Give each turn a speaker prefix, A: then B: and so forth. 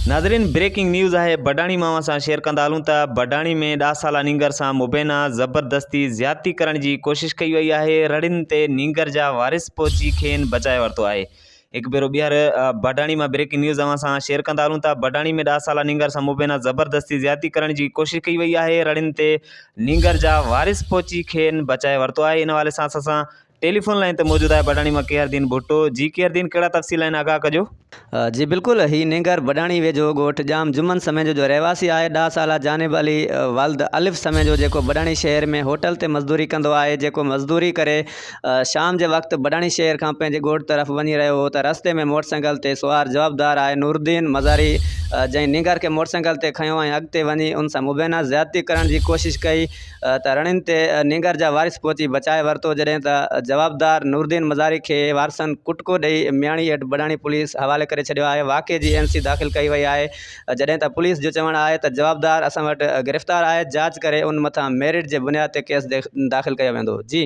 A: ناظرين breaking news آهي بڊاڻي مان اوهان سان شيئر ڪندا هلون ته بڊاڻي ۾ ڏاھ سالا نينگر سان مبينا زبردستي زيادتي ڪرڻ جي ڪوشش ڪئي وئي آهي رڙين تي نينگر جا وارث پهچي کين بچائي ورتو آهي هڪ ڀيرو ٻيهر بڊاڻي مان بريڪنگ نيوز اوهان سان شيئر ڪندا هلون ته بڊاڻي ۾ ڏاھ سالا نينگر سان مبينا زبردستي زيادتي ڪرڻ جي ڪوشش ڪئي وئي آهي رڙين تي نينگر جا وارث پهچي کين بچائي ورتو آهي ان حوالي سان اسان سان ٽيليفون لائين تي موجود آهي بڊاڻي مان ڪيهر دين ڀٽو جي ڪيهر دين ڪهڙا تفصيل آهن آگاهه ڪجو. جي بلڪل
B: هي نينگر بڊاڻي ويجهو ڳوٺ ڄام جمن سميجو جو رهواسي آهي ڏاهه سالا جانب علي والد الف سميجو جيڪو بڊاڻي شهر ۾ هوٽل تي مزدوري ڪندو آهي جيڪو مزدوري ڪري شام جي وقت بڊاڻي شهر کان پنهنجي ڳوٺ طرف وڃي رهيو هو ته رستي ۾ موٽرسائيڪل تي سوار جوابدار آهي نورالدين مزاري جنهن نينگر کي موٽرسائيڪل تي کنيو ۽ اڳتي وڃي ان سان مبينا زيادتي ڪرڻ جي ڪوشش ڪئي ته رڻين تي نينگر جا وارث پهچي بچائي ورتو جڏهن ته جوابدار نورالدين مزاري کي وارثن ڪٽڪو ڏئي مياڻي هيٺ بڊاڻي پوليس حوالي ڪري ڇڏيو آهي واقعي جي اين سي داخل ڪئي وئي آهي جڏهن ته پوليس جو چوڻ آهي ته جوابدار اسان وٽ گرفتار آهي جاچ ڪري ان مٿان ميرٽ جي بنياد تي ڪيس داخل ڪيو ويندو جي